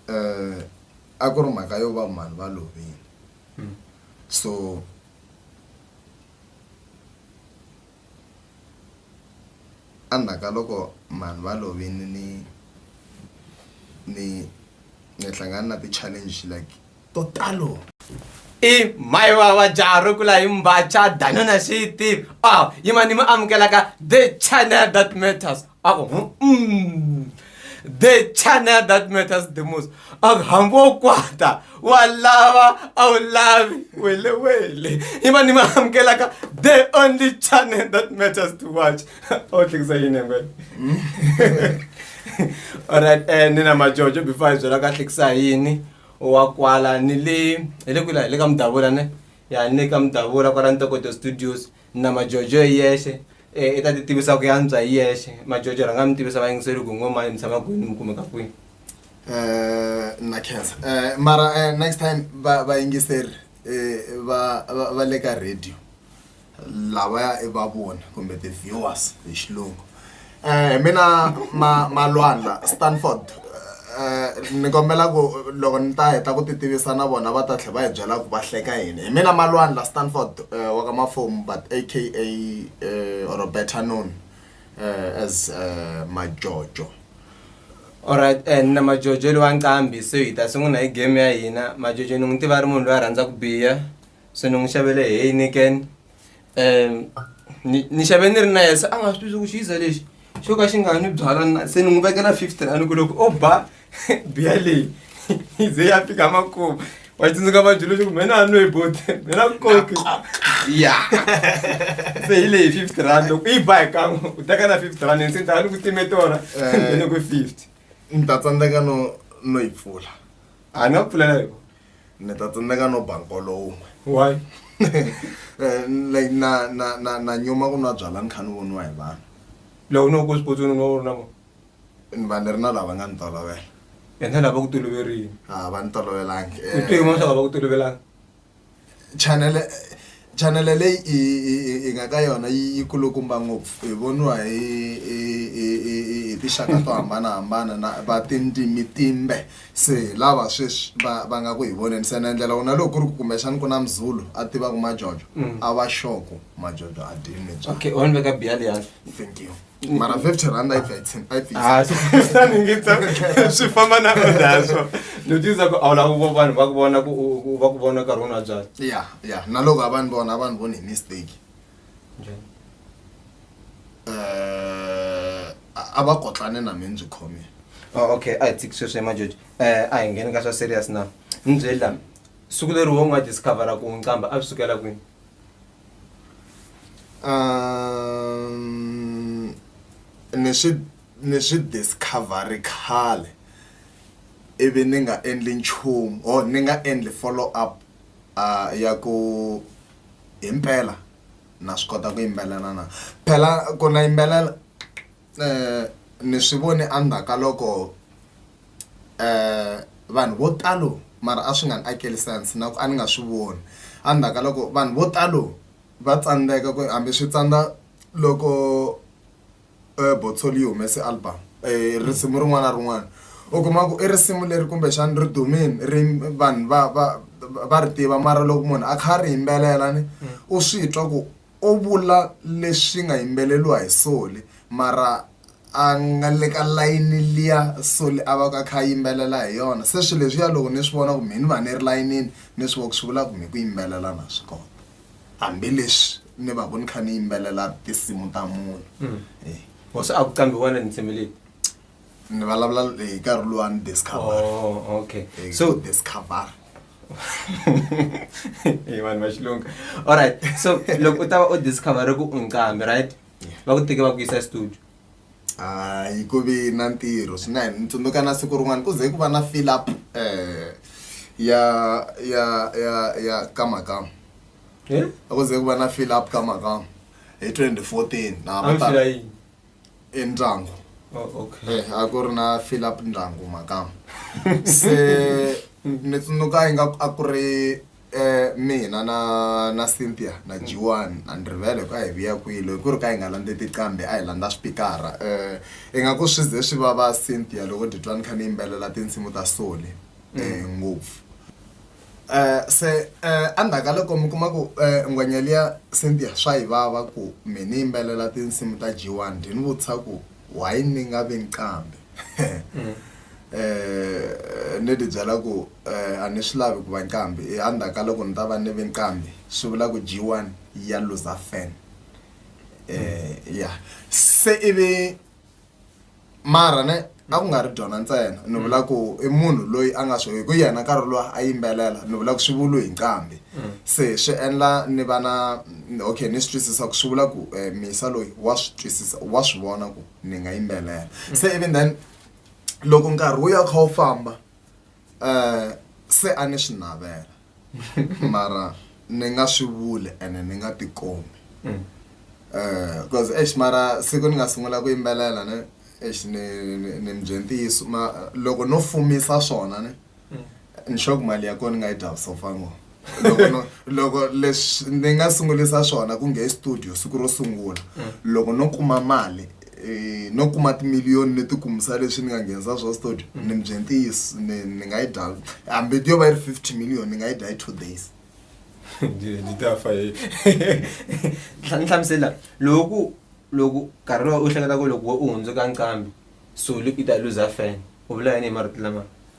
um a ku ri mhaka yo va mhani va lovile hmm. so endzhaku ka loko mhani va lovile ni ni ni hlangana na ti-challenge like to talo i mai vava jaha ro kula hi mbacha danona xiti a yima ni mi amukelaka the channel that matters a ku mm, the channel that matters the most a ku hambi wo kwata wa lava a wu lavi welewele yima ni mi amukelaka the only channel that matters to watch o tlekisa yini ngwena mm. alright um eh, ni na majojo before hi byela ka tlekisa yini wa kwala ni le hi le kwila hi le ka mudavula ne ya ni le ka mudavula kwala ntokoto studios na majojo hi yexe eh, i ta ti tivisa ku yantswa hi yexe majojo rhanga mi tivisa vayingiseri ku ngoma mi tshama kwini mi kumeka kwini Eh, na khensa Eh, mara eh, next time va- vayingiseri eh, va va- va le ka radio lavaya i va voni kumbe ti viewers hi xilungu eh, hi mina ma malwandla stanford eh, eh, ni kombela ku loko ni ta heta ku ti tivisa na vona va ta tlhe va hi byela ku va hleka yini hi mina malwandla stanford wa ka mafomu but aka or better known as majojo alright and na majojo lowa nqambi so hi ta sungula hi game ya hina majojo ni n'wi tiva ri munhu loyi a rhandza ku biya se ni n'wi xavele heineken um ni ni xave ni ri na yena se a nga swi twisisi ku xi yiza lexi xo ka xi nga ni byala na se ni n'wi vekela fifteen a ni ku loko o ba biya leyi yi ze ya fika makumu wa tsundzuka vadyulu leswaku mina a nwe boti mina koki ya se hi leyi fifty rand loko yi ba hi kan'we u teka na fifty rand ni se ni ta va ni ku time tona Eh. ni ku fifty ni ta tsandzeka no no yi pfula a ni nga pfulela yona ni ta tsandzeka no ba nkolo wun'we why Eh, like na na na na nyuma ku nwa byala ni kha ni voniwa hi vanhu loko no ku xipotsweni u nga u ri na vona ni va ni ri na lava nga ni tolovela yena lava ku toloverile a va ni tolovelangi u te yin'wana swa ku va ku tolovelanga chanele chanele leyi hi nga ka yona yi kulukumba ngopfu hi voniwa hi tinxaka to hambanahambana na va tindzimi timbe se lava sweswi va va nga ku hi voneni se na endlela wona loko ku ri ku kumbexani ku na mzulu a tivaka majojo mm. a va xoko majojo a dini okay u ni veka biya liyani thank you mara fifty rand ah, swi famba na odaswo ni tisa ku awula vanhu va ku vona va ku vona nkarhi wona byala ya ya na loko a va ni vona a va ni voni hi mistake eh, a va kotlane na mi ndzi khomile oh, okay a hi tsiki sweswi emajoji um eh, a hi ngheni ka swa serious na ni byeli lami siku leri wo n'wa discovera ku nqamba a swi sukela kwini Um, ni swi ni swi discover-ri khale ivi ni nga endli nchumu or ni nga endli follow up ya ku himpela na swi kota ku yimbelela na. Phela ku na yimbelela. ni swi vone endzhaku ka loko vanhu vo talo mara a swi nga ni akeli sense na ku a ni nga swi voni endzhaku ka loko vanhu vo talo va tsandzeka ku hambi swi tsandza loko Botsolli yi humese album risimu rin'wana na rin'wana u kuma ku i risimu leri kumbexana ri dumile ri vanhu va va va ri tiva mara loko munhu a kha a ri yimbelela ni u swi twa ku. o vula leswi nga yimbeleriwa hi Soli mara a nga le ka layini liya Soli a va ka a kha a yimbelela hi yona se swilo leswiya loko ni swi vona ku mehe ni va ni ri layinini ni swi vona ku swi vula ku mehe ku yimbelela na swi kota hambileswi ni va ku ni kha ni yimbelela tinsimu ta munhu. Hosi a ku qambhi wena ni tshemele. ni vulavula hi nkarhi luwani discover oh, okay eh, so discover hi vanhu va xilungu alright so loko u ta va u discover ku u nqambi right va ku teke va ku yisa studio hayi ku vi na ntirho swinene ni tsundzuka na siku rin'wana ku ze ku va na fill up um ya ya ya ya ka makam eh? ku ze ku va na fill up ka makam hi twenty fourteen na e ndyangu oh, okay. eh, a ku ri na fill up ndyangu makama se ni tsundzuka ingaku a ku ri eh, mina na na cynthia na jiwani a ni rivele ku a hi vuya kwilo hi ku ri ka hi nga landze tiqambi a hi landza swipikara um ingaku swi ze swi vava cynthia loko ditwani kha ni yimbelela tinsimu ta sole um ngopfu se endzhaku ka loko mi kuma ku ngwenya liya Cynthia swa yi vava ku mi ni yimbelela tinsimu ta G1 dyi ni vutisa ku why ni nga vi nqambi um ni ti byela ku a ni swi lavi ku va nqambi endzhaku ka loko ni ta va ni vi nqambi swi vula ku G1 ya looser fan um ya se ivi mara ne a ku nga ri byona ntsena ni vula ku i munhu loyi a nga swi hi ku yena nkarhi lowa a yimbelela ni vula ku swi vulu hi nqambi se swi endla ni va na okay ni swi twisisa ku swi vula ku um misa loyi wa swi twisisa wa swi vona ku ni nga yimbelela se even then loko nkarhi wu ya wu kha wu famba um se a ni swi navela mara ni nga swi vuli ene ni nga tikomi Mm. Eh, cause eish mara siku ni nga sungula ku yimbelela ne eish ni ni- ni mi bye ntiyiso ma loko no fumisa swona ne Mm. ni sure ku mali ya kona ni nga yi dya vusofa ngo loko no loko leswi ni nga sungulisa swona ku nge studio siku ro sungula loko no kuma mali eh, no kuma timiliyoni ni tikumisa leswi ni nga nghenisa swa studio mm. ni mi bye ntiyiso ni ni nga yi dya hambi yo va yi ri fifty million ni nga yi dya hi two days ni ta fa hi ni hlamusela loko loko nkarhi lowu u hleketa ku loko u hundzuka nqambi sulu i ta luza fan u vula yini hi marito lama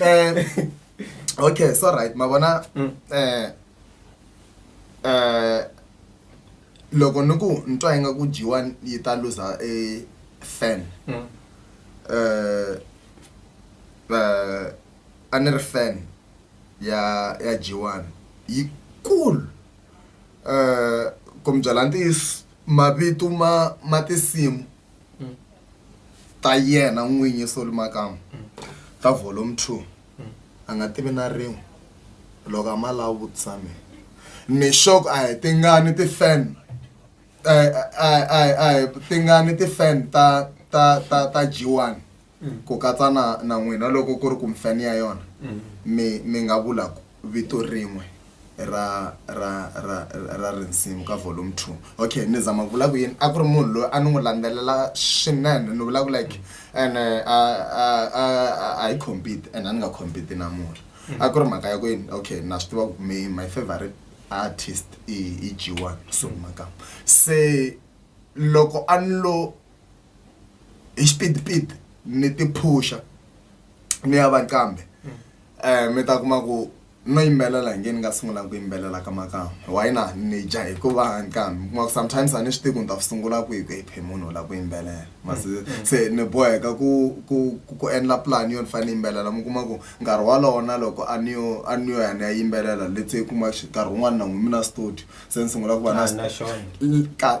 um okay so right ma vona um um loko ni ku ni twa inga ku dyiwa yi ta luza e fan um um a ni ri fan ya ya dyiwani yi cool um ku mi byela ntiyiso mavito ma ma tinsimu ta yena n'winyi soli makamu ta volume two a nga tivi na rin'we loko a ma lava vutisa mina ni xoko a hi tingani ti-fan a hi a hi a hi tingani ti-fan ta ta ta ta G one ku katsa na na n'wina loko ku ri ku mfani ya yona mi mi nga vula ku vito rin'we ra ra ra ra rinsimu ka volume two okay ni zama vula ku yini a ku ri munhu loyi a ni n'wi landzelela swinene ni vula ku like and a hi compete and a ni nga compete na murhi a ku ri mhaka ya ku yini okay na swi tiva ku me my favorite artist i i g one sungula kambe se loko a ni lo hi xipidipidi ni ti phusha ni ya va kambe um mi ta kuma ku no yimbelela hi nge ni nga sungula ku yimbelela ka makamu why na ni dya hikuva nkambi mi kuma ku sometimes a ni swi tivi ku ni ta swi sungula kwihi ku ephe munhu la ku yimbelela masi se ni boheka ku ku ku- ku endla plan yo ni fanele ni yimbelela mi kuma ku nkarhi walowo na loko a ni yo a ni yo ya ni ya yimbelela let's say kuma xi- nkarhi wun'wana na n'wi mi na studio se ni sungula ku va na Ah, na xona. ka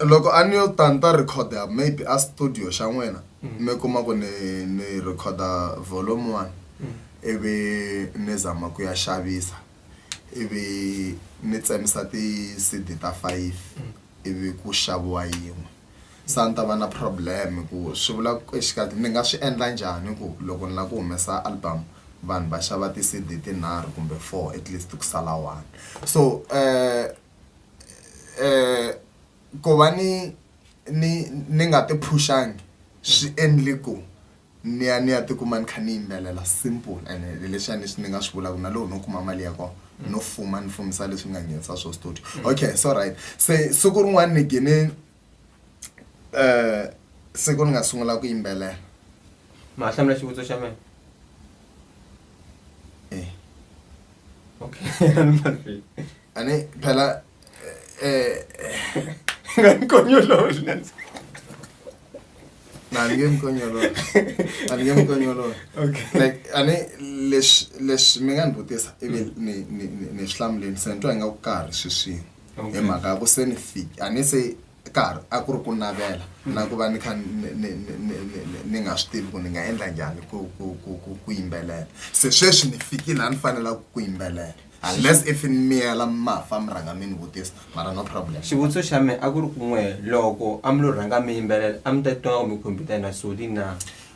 loko a ni yo ta ni ta recorda maybe a studio xa n'wina mi kuma ku ni ni recorda volume one ivi ni zama ku ya xavisa ivi ni tsemisa ti-cd ta five ivi ku xaviwa yin'we se a ni ta va na problem hi ku swi vula ku exikarhi ni nga swi endla njhani ku loko ni lava ku humesa album vanhu va xava ti-cd tinharhu kumbe four at least ku sala one so . ku va ni ni ni nga ti phuxangi swi endle ku ni ya ni ya ti kuma ni kha ni yimbelela simple ene hi leswi a ni swi ni nga swi vulaka na loko no kuma mali ya kona no fuma ni fumisa leswi ni nga nghenisa swona studio okay so right se siku rin'wana ni gine siku ni nga sungula ku yimbelela ma hlamula xivutiso xa mina e okay Ani phela eh ngankonyololo lenza. Nani ke mkonyolo. Ani ke mkonyolo. Okay. Like ani lesh lesh mi nga ni vutisa ivi ni ni ni ni swi hlamuleni se ni twa ingaku ka ha ri sweswini. Okay. hi mhaka ya ku se ni fik a ni se karhi a ku ri ku navela na ku va ni kha ni nga swi tivi ku ni nga endla njhani ku ku ku ku ku yimbelela se sweswi ni fikile a ni fanelaka ku yimbelela unless if ni miyela mafa mi rhanga mi ni vutisa mara no problem xivutiso xa mina a ku ri kun'we loko a mi lo rhanga mi yimbelela a mi ta twa kumbe khompyuta yina soli na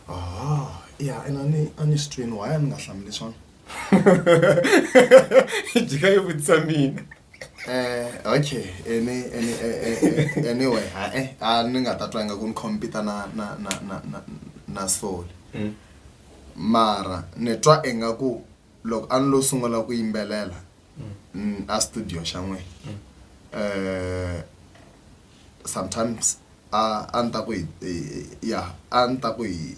oh ya ina ni a ni swi twini why a ni nga hlamuli swona jika yi vutisa mina Eh, okay any, any, eh, eh, eh, anyway hae a ni nga ta twa inga ku ni compita na na na na na, na soul Mm. mara ni twa inga ku loko a ni lo sungula ku yimbelela mm, a studio xa n'we eh sometimes a a ni ta ku ya a ni ta ku hi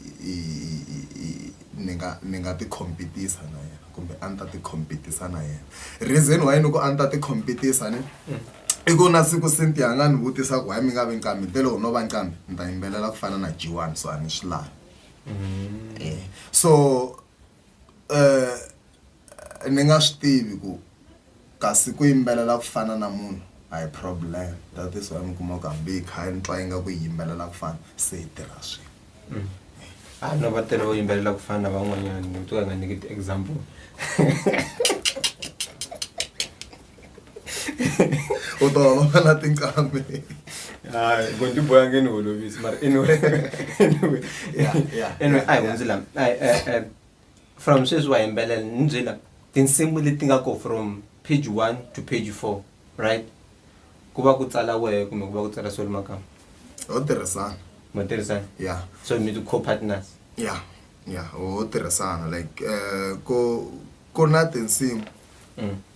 ni nga ni nga ti compete-isa na yena kumbe a ni ta ti compete-isa na yena reason why ni ku a ni ta ti compete-isa ni i ku na siku Cynthia a nga ni vutisa ku why mi nga vi nqambi ni te loko no va nqambi ni ta yimbelela ku fana na G1 so a ni swi lavi so. ni nga swi tivi ku kasi ku yimbelela ku fana na munhu a hi problem that is why mi kuma ku hambi hi kha hi ni twa ingaku hi yimbelela ku fana se hi tirha swin'we a no va tele vo yimbelela ku fana na van'wanyana ni to ka hi nga nyiki ti-example u ta va va na tinqambi hayi gondi boya nge ni holovisi mara anyway anyway Yeah, yeah, anyway yeah, a hi yeah. hundzi la Ai, eh, eh, from sweswi wa yimbelela ni byi la tinsimu leti nga ko from page one to page four right ku va ku tsala wehe kumbe ku va ku tsala solo makama ho tirhisana mo tirhisana ya so mi ti co-partners ya ya ho tirhisana like eh, ku ku na tinsimu Mm.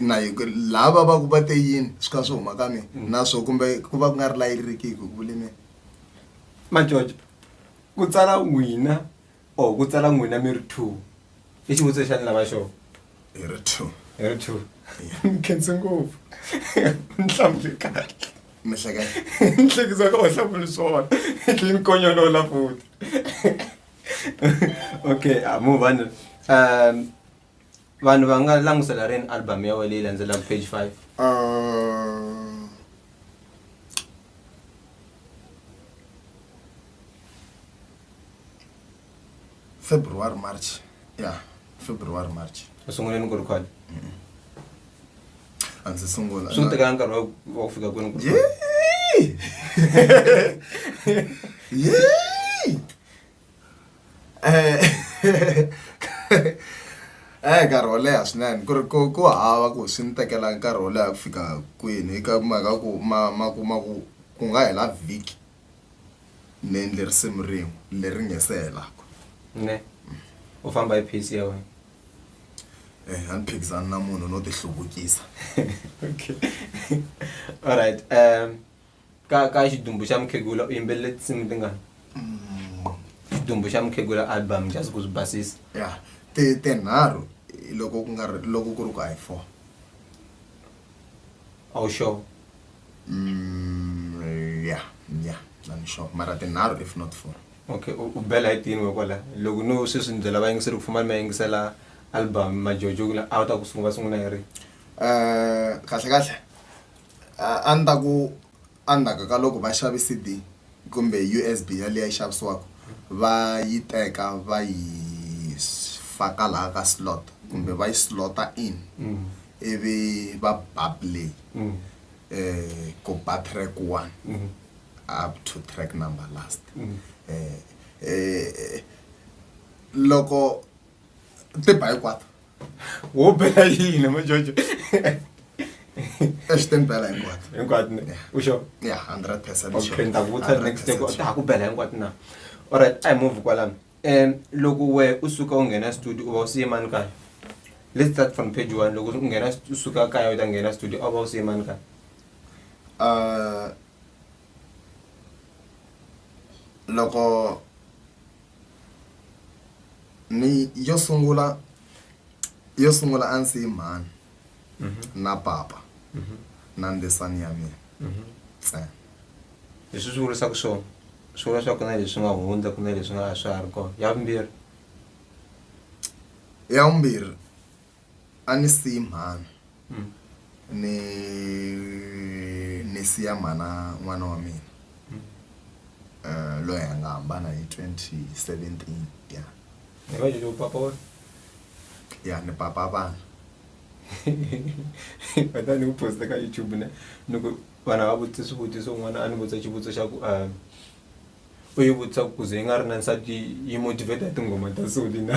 na lava va ku va te yini swi kha swi huma ka mina mm. na swo kumbe ku va ku nga ri la yi riki hi ku vule mina majojo ku tsala n'wina or ku tsala n'wina mi ri two i xivutiso xa ni lava xona hi ri two hi ri two mi khense ngopfu ni hlamule kahle mihlekisa ka wahlafuni swona tlhe ni konyolola futi okay amuvani um vanhu va nga langutisela rini album ya wena leyi landzelaka page five Uh, February, March. Yeah, February, March. u sungule ni ku record A ndzi sungula. swi ku tekela nkarhi wa- wa ku fika kwini ku Yay! Yay! Hi nkarhi wo leha swinene ku ri ku ku hava ku swi ni tekela nkarhi wo leha ku fika kwini eka mhaka ku ma ma kuma ku ku nga hela vhiki ni endle risimu rin'we leri nga se helaka ne u famba hi pace ya wena a ni phikizani na munhu no ti hluvukisa alright . ka ka xidumbu xa mukhegula u yimbelele tinsimu tingani xidumbu xa mukhegula album just ku swi basisa ya ti tinharhu loko ku nga ri- loko ku ri ku a hi four a wu sure Mm, ya ya na ni sure mara tinharhu if not four okay u u bela hi tini we kwala loko no sweswi ni byela vayingiseri ku fuma ni ma yingisela album majojo kula a wu ta ku sungula sungula hi ri Eh, kahle kahle a ni ta ku endzhaku ka loko va xave C_D kumbe U_S_B yaliya yi xavisiwaka va yi teka va yi faka laha ka slot kumbe va yi slot-a in ivi va ba play ku ba track one up to track number last loko ti ba hinkwato. wo bela yini ma jojo swi timbela hinkwato hinkwato u xo ya hundred percent okay ni ta ku vutisa next day ta ha ku bela hinkwato na alright a hi move kwalano um loko we u suka u nghena studio u va u siye mani kaya let's start from page one loko u nghena u suka kaya u ta nghena studio a wu va u siye mani kaya loko ni yo sungula yo sungula a ndzi yi mhani na papa na ndzisani ya mina ntsena leswi swi vurisaka swona swi vula swa ku na leswi nga hundza ku na leswi nga a swa ha ri kona ya vumbirhi ya vumbirhi A ni siyi mhana ni ni siya mhana n'wana wa mina eh, loyi a nga hambana hi 2017 ya Ni va lelo papa wa. ya ni papa vana Kata ni ku posta ka YouTube ne. Ni ku vana va vutisa swivutiso n'wana a ni vutisa xivutiso xa ku ah u yi vutisa ku kuze yi nga ri na nsati yi motivate tinghoma ta soli na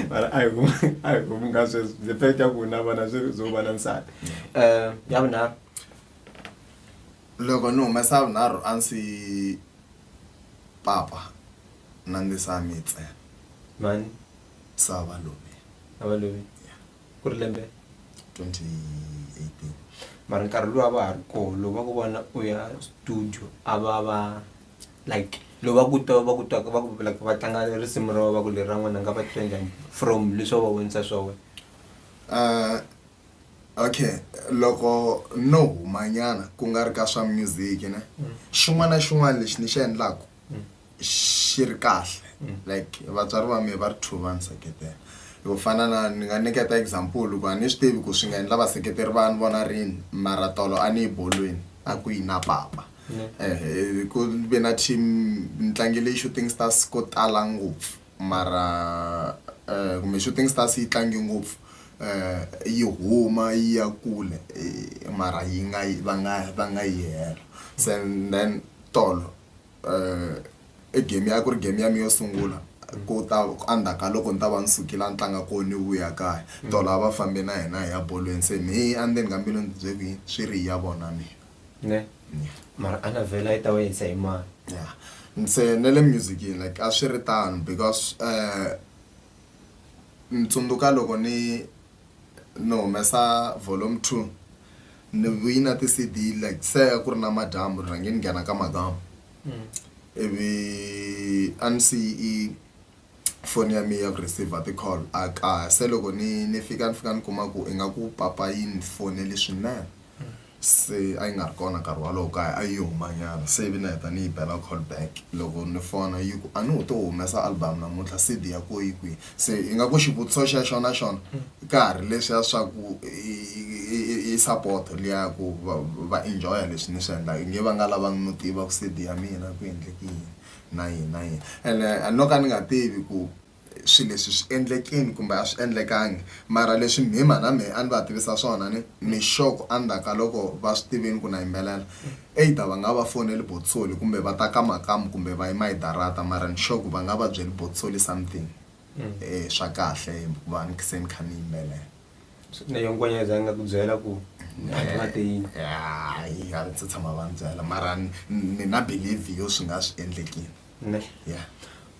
mara a hi ku a hi ku nga sweswo the fact ya ku na vana swi zo va na nsati um ya vunharhu loko ni humesa vunharhu a ndzi papa na ndzi sa mi ntsena mani sava lomi a va loyi ku ri lembe 2018 mara nkarhi lowu a va ha ri koho lowu va ku vona u ya studio a va va like lowu va ku twa va ku twaka va ku like va tlanga risimu ra wena va ku leri ra n'wana nga va titwa njhani from leswi va va vonisa swa wena Uh, okay loko no humanyana ku nga ri ka swa music ne xin'wana na xin'wana lexi ni xi endlaku xi ri kahle mm. like vatswari va me va ri two va ni seketela yo fana na ni nga nyiketa example ku a ni swi tivi ku swi nga endla vaseketeri va ni vona rini mara tolo a ni yi bolweni a ku yi na papa mm. eh, ku ve na team ni tlangile yi-shooting stars ko tala ngopfu mara eh, kumbe shooting stars yi tlangi ngopfu eh, yi huma yi ya kule mara yi nga va nga va nga yi hela sen then tolo i game ya ku ri game ya mi yo sungula ku ta endzhaku ka loko ni ta va ni sukile a ni tlanga kona ni vuya kaya tolo a va fambe na hina hi ya bolweni se me endzeni ka mbilu ni byele ku yini swi ri ya vona mina ne mara a na vhela yi ta va yisa hi mani ya ni se ne le musicini like a swi ri tano because um ni tsundzuka loko ni Ni humesa volume two ni vuyi na ti-C_D like se a ku ri namadyambu ni rhange ni nghena ka madam ivi a ni si yi foni ya mehe ya ku receiver ti-call a kaya se loko ni ni fika ni fika ni kuma ku ingaku papa yi ni fonele swinene. se a yi nga ri kona nkarhi wolowo kaya a yi yo humanyana se ivi ni heta ni yi bela call back loko ni fona yi ku a ni ho to humesa album namuntlha C_D ya koho yi kwihi se ingaku xivutiso xexo na xona ka ha ri leswiya swa ku i support liya ya ku va va enjoy-a leswi ni swi endlaka i nge va nga lavanga no tiva ku C_D ya mina ku endleke yini na yini na yini ene no ka ni nga tivi ku. swilo leswi swi endlekile kumbe a swi endlekanga. Mara leswi mhimha na mehe a ni va tivisa swona ni ni sure ku endzhaku ka loko va swi tivile ku na yimbelela either va nga va foneli Bothsoli kumbe va ta ka makamu kumbe va yima hi darata mara ni sure ku va nga va byeli Bothsoli something swa kahle hikuva ni se ni kha ni yimbelela. Na yoho ngwenya a yi za yi nga ku byela ku a ti nga te yini? Hayi a va se tshama va ni byela mara ni na believe yo swi nga swi endlekile. Neh? Yeah.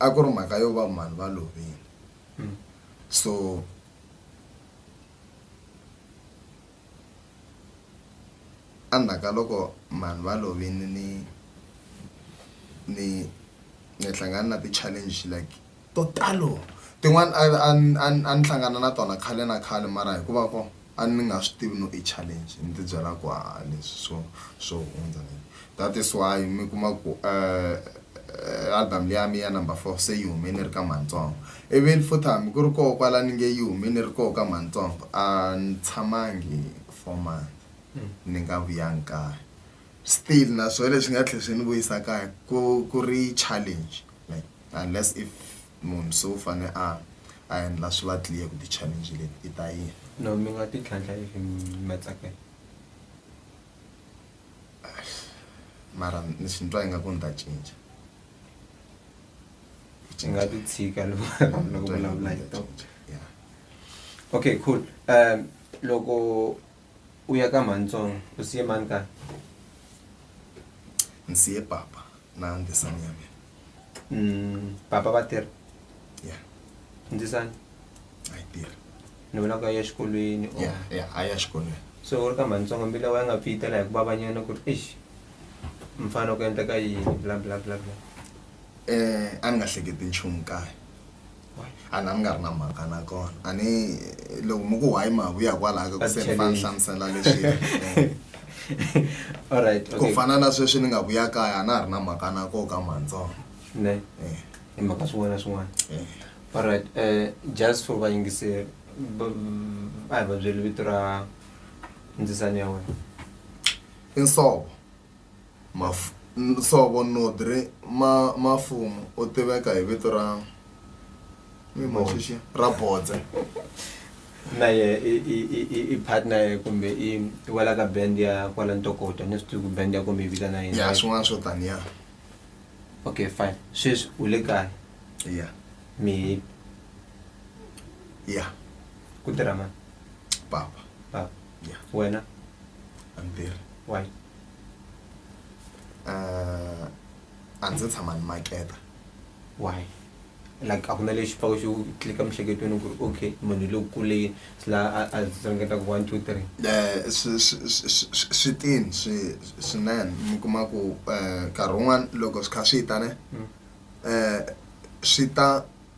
a ku ri mhaka yo va mhani va lovile so endzhaku ka loko mhani va lovile ni ni ni hlangana na ti-challenge like to talo tin'wani a a a ni hlangana na tona khale na khale mara hikuva ko a ni nga swi tivi no i challenge ni ti byela ku a leswi swo swo hundza ni that is why mi kuma ku eh, album leyi ya mi ya number four se yi hume ni ri ka mantsongo even futhi hambi ku ri koho kwala ni nge yi hume ni ri koho ka mantsongo a ni tshamangi four months ni nga vuyanga kaya still na swona leswi nga tlhela swi ni vuyisa kaya ku ku ri challenge like unless if Munhu se u fane a a endla swi va clear ku ti challenge leti i ta yini. No mi nga ti tlhantlha if ma tsakela. Mara ni swi twa ingaku ni ta cinca. Ni nga ti tshika loko vulavula hi tona. Okay cool loko. u ya ka mhani tsongo u siye mhani kaya ni siye papa na ndzisani ya mina Mm, papa va tirha ya ndzisani a yi tirhi ni vona ku ya exikolweni or- ya ya a ya xikolweni so u ri ka mhani tsongo mbila wa ya nga pfiyitela hi ku vavanyana ku ri eish mfana ku endleka yini bla bla bla bla um a ni nga hleketi nchumu kaya a na ni nga ri na mhaka na kona a ni loko mi ku why ma vuya kwalaho ka ku se ni fana hlamusela leswi alright ku fana na sweswi ni nga vuya kaya a na ha ri na mhaka na koho ka mantsongo ne eh. hi mhaka swin'wana na swin'wana eh. alright um just for vayingiseri a hi va byeli vito ra ndzisani ya wena i nsovo Mafu, Nsovo Nodri ma, Mafumu u tiveka hi vito ra mi machichi ra Bodze. na ye i, i, i, i, i partner ya- kumbe i i wela ka band ya kwala ntokoto ni swi tivi ku band ya ko mi yi vitana yini Ya swin'wana swo taniya. okay fine sweswi u le kaya Ya. mi Ya. ku tirha mani Papa. papa Yeah. wena I'm there. why Uh, a ndzi tshama ni maketa. why like a ku na lexi pfaka xi wu tlika emiehleketweni ku ri okay munhu lowu kuleni swi la a a ringeta ku one two three Eh, swi- swi- swi- swi- swi tini swi- swinene mi kuma ku eh, nkarhi wun'wani loko swi kha swi ta ne Mm. eh, swi ta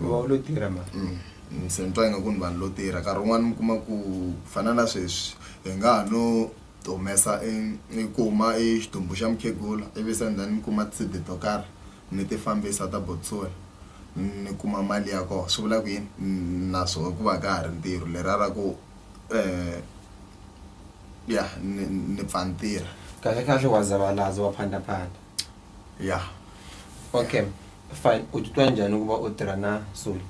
va u lo tirha ma ni se ni twa ingaku ni vanhu lo tirha nkarhi wun'wana mi kuma ku ku fana na sweswi hi nga ha no ti humesa i- i kuma i xidumbu xa mukhegula ivi se and then ni kuma tisidi to karhi ni ti fambisa ta botswana ni kuma mali ya kona swi vula ku yini Ni- na swo ku va ka ha ri ntirho leriya ra ku um ya ni ni pfa ni tirha kahlekahle wa zavalaza wa phandaphanda. ya okay fine u titwa njhani ku va u tirha na soli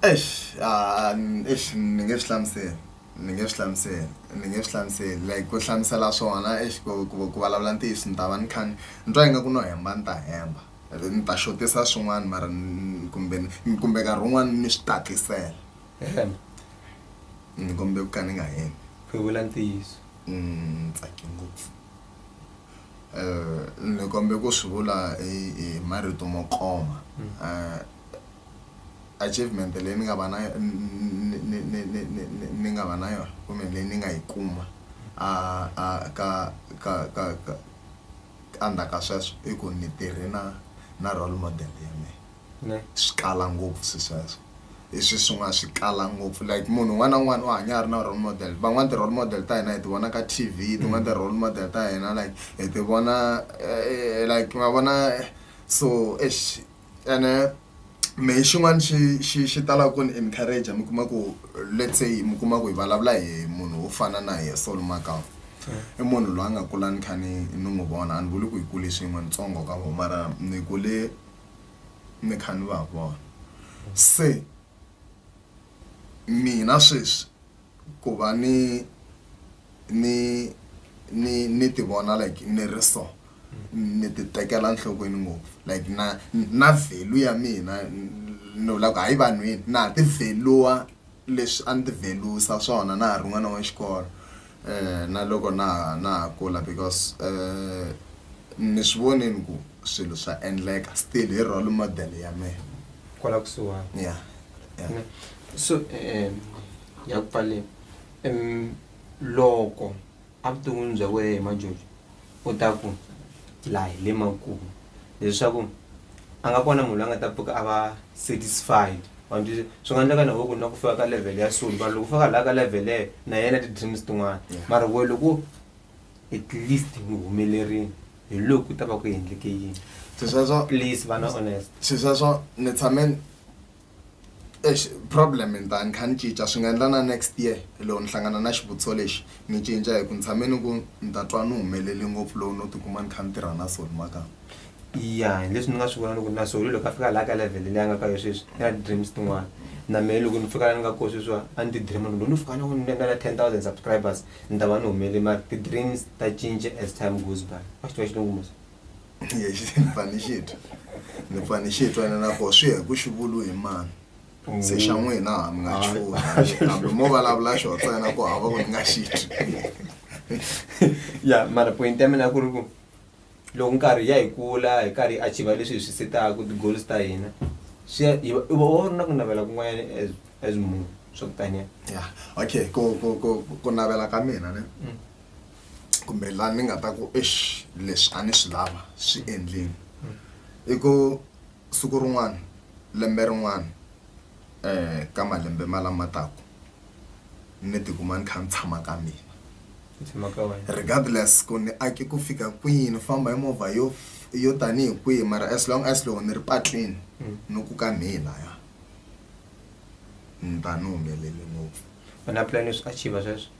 eish ah, n- eish ni nge swi hlamuseli ni nge swi hlamuseli ni nge swi hlamuseli like ku hlamusela swona eish ku ku- ku vulavula ntiyiso ni ta va ni kha ni ni twa ingaku no hemba ni ta hemba ni ta xotisa swin'wana mara ni- kumbe ni- kumbe nkarhi wun'wana ni swi tatlisela hemba ni kombele ku ka ni nga hembi ku vula ntiyiso Ni tsake ngopfu ni kombe ku swi vula hi marito mo koma achievement leyi ni nga va na ni nga va na yona kumbe leyi ni nga yi kuma a a ka ka ka ka ka endzhaku ka sweswo i ku ni tirhe na na role model ya mina. Ne. Swi kala ngopfu swi sweswo. Hi swi swin'wana swi kala ngopfu like munhu un'wana na un'wana u hanya a ri na role model. Van'wana ti-role model ta hina hi ti vona ka T_V, tin'wana ti-role model ta hina like hi ti vona like ma vona so eish ene mehe xin'wana xi xi xi talaka ku ni encourager mi kuma ku let's say mi kuma ku hi vulavula hi munhu wo fana na yehe Saul Makau i munhu loyi a nga kula ni kha ni ni n'wi vona a ni vuli ku hi kule swin'we ntsongo ka vona mara ni kule. mi kha ni va vona se mina sweswi ku va ni ni ni ni ti vona like ni ri so ni ti tekela nhlokweni ngopfu like na na value ya mina ni vula ku hayi vanhwini na ha ti value-a. Leswi a ni ti velusa swona na ha ri n'wana wa xikolo na loko na ha na ha kula because ni swi vonile ku swilo swa endleka still hi role model ya mehe kwala kusuhani ya ya so ya ku pfaleni loko Evuton'wini bya wena hi majojo u ta ku laha hi le makumu leswaku a nga kona munhu la nga ta pfuka a va satisfied wa ni twisisa swi nga endleka na wehe ku na ku fika ka level ya so mara loko u fika laha ka level leyo na yena ti-dreams tin'wana mara wehe loko at least ni humelerile hi loko ku ta va ku endleke yini swesweswo please va na honest swesweswo ni tshame. Exi problem ni ta ni kha ni cinca swi nga endla na next year loko ni hlangana na xivutiso lexi ni cinca hi ku ni tshame ni ku ni ta twa ni humelele ngopfu loko no tikuma ni kha ni tirha na soni maka ya hi leswi ni nga swi vona loko na solo loko a fika laha ka level leyi a nga ka yo sweswi i na ti-dreams tin'wana na mehe loko ni fika la ni nga koho sweswiwa a ni ti-dream-a ni ku loko no fika ni ni nga na ten thousand subscribers ni ta va ni humelele mara ti-dreams ta cinca as time goes by wa xi tiva xilungu mos. pfani xi twa ni pfani xi twa ni nako swi ya hi ku xivulu hi mani se xa n'wina ha mi nga chula hambi mo vulavula xo ntsena ku hava ku ni nga xi twi ya mara point ya mina ku ri ku loko nkarhi ya hi kula hi karhi hi achiva leswi hi swi setaka ti-goals ta hina swi ya hi va u va u ri na ku navela kun'wanyana as as munhu swa ku taniya ya okay ku ku ku ku navela ka mina ne kumbe laha ni nga ta ku eish leswi a ni swi lava swi endleni i ku siku rin'wana lembe rin'wana um ka malembe ma lama taka ni tikuma ni kha ni tshama ka mina regardless ku ni ake ku fika kwihi ni famba hi movha yo yo tanihi kwihi mara as long as loko ni ri patwini ni ku ka mhi laya ni ta ni humelele ngopfu u na plan yo swi achiever sweswo.